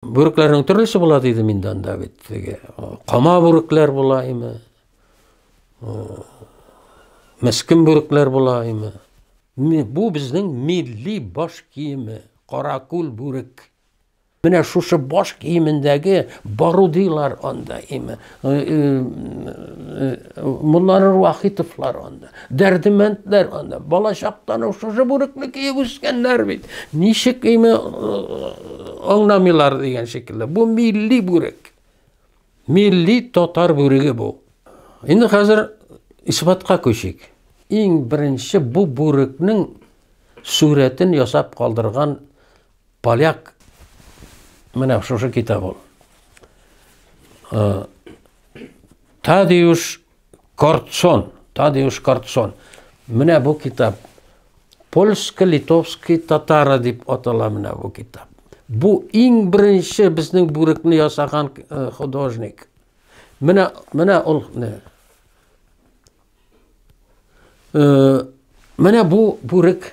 Бүрекләрнең төрлесе була диде мин анда бит. Теге кама бүрекләр була име? Мескин бүрекләр була име? Бу безнең милли баш киеме, каракүл бүрек. Менә шушы баш киемендәге барудилар анда име? Монлары Вахитовлар анда, Дәрдемәндләр анда, балачактан ук шушы бүрекне киеп үскәннәр бит. Ничек име аңламыйлар дигән шикелле. Бу милли бүрек. Милли татар бүреге бу. Инде хәзер исбатка күчик. Иң беренче бу бүрекнең сурәтен ясап калдырган Поляк менә шушы китап ул. Тадеуш Кортсон, Тадеуш Кортсон. Менә бу китап польский, литовский, татары дип атала менә бу китап. Бу иң беренче безнең бүрекне ясаган э, художник. Менә менә ул не. Э, менә бу бүрек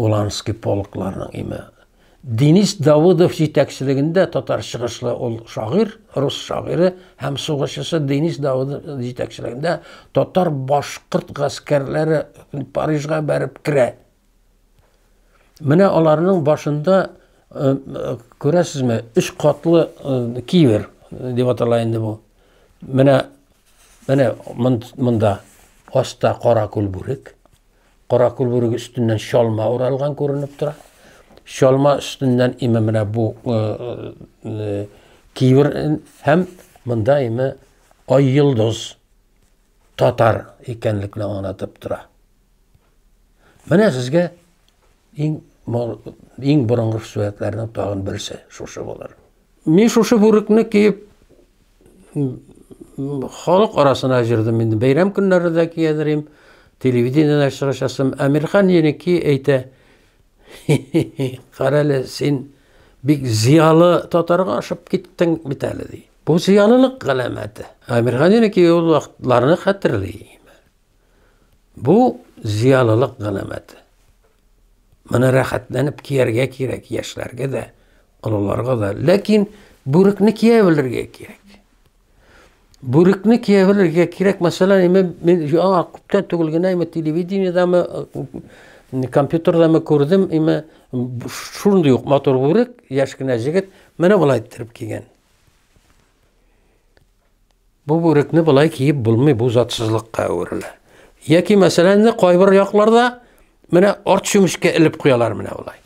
Уланский полкларның име. Денис Давыдов җитәкчелегендә татар чыгышлы ул шагыйрь, рус шагыйре һәм сугышчысы Денис Давыдов җитәкчелегендә татар башкорт гаскәрләре Парижга бәреп керә. Менә аларның башында э, күрәсезме, өч катлы э, кивер э, дип атала инде бу. Менә менә монда аста кара күл бүрек, Каракүл бүреге өстеннән чалма уралган күренеп тора. Чалма өстеннән име менә бу э, э, кивер һәм монда име ай йолдыз татар икәнлекне аңлатып тора. Менә сезгә иң иң борынгы сурәтләрнең тагын берсе шушы булыр. Мин шушы бүрекне киеп халык арасына җырдым инде. Бәйрәм көннәре дә киядерим, телевидениедә чыгышасым. Әмирхан Еники әйтә, Карәле, син бик зиялы татарга ашып киттең бит әле, ди. Бу зиялылык галәмәте. Әмирхан Еники ул вакытларны хәтерли. Бу зыялылык галәмәте. Моны рәхәтләнеп кияргә кирәк яшьләргә дә, олыларга да. Ләкин бүрекне кия белергә кирәк. Бүрекне кия белергә кирәк. Мәсәлән, име мин яңа күптән түгел генә име телевидениедәме, компьютердамы күрдем, име шундый ук матур бүрек, яшь кенә җегет менә болай иттереп кигән. Бу бүрекне былай киеп булмый, бу затсызлыкка әверелә. Яки мәсәлән, инде кайбер якларда менә арт чүмечкә элеп куялар менә болай.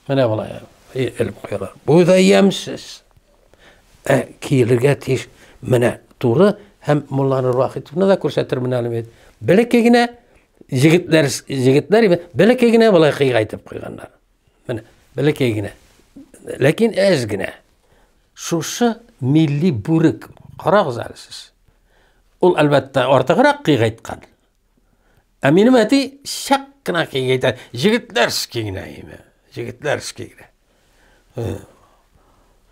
Менә болай элеп куялар. Бу да ямсез. Ә киелергә тиеш менә туры һәм Мулланы Рахитовны да күрсәтер менә әле бит. Бәләкәй генә җегетләр җегетләр бәләкәй генә былай кыйгайтып куйганнар. Менә, бәләкәй генә. Ләкин әз генә. Шушы милли бүрек, карагыз әле сез. Ул, әлбәттә, артыграк кыйгайткан. Ә минем әти чак кына кыйгайта, җегетләрский генә име, җегетләрский генә.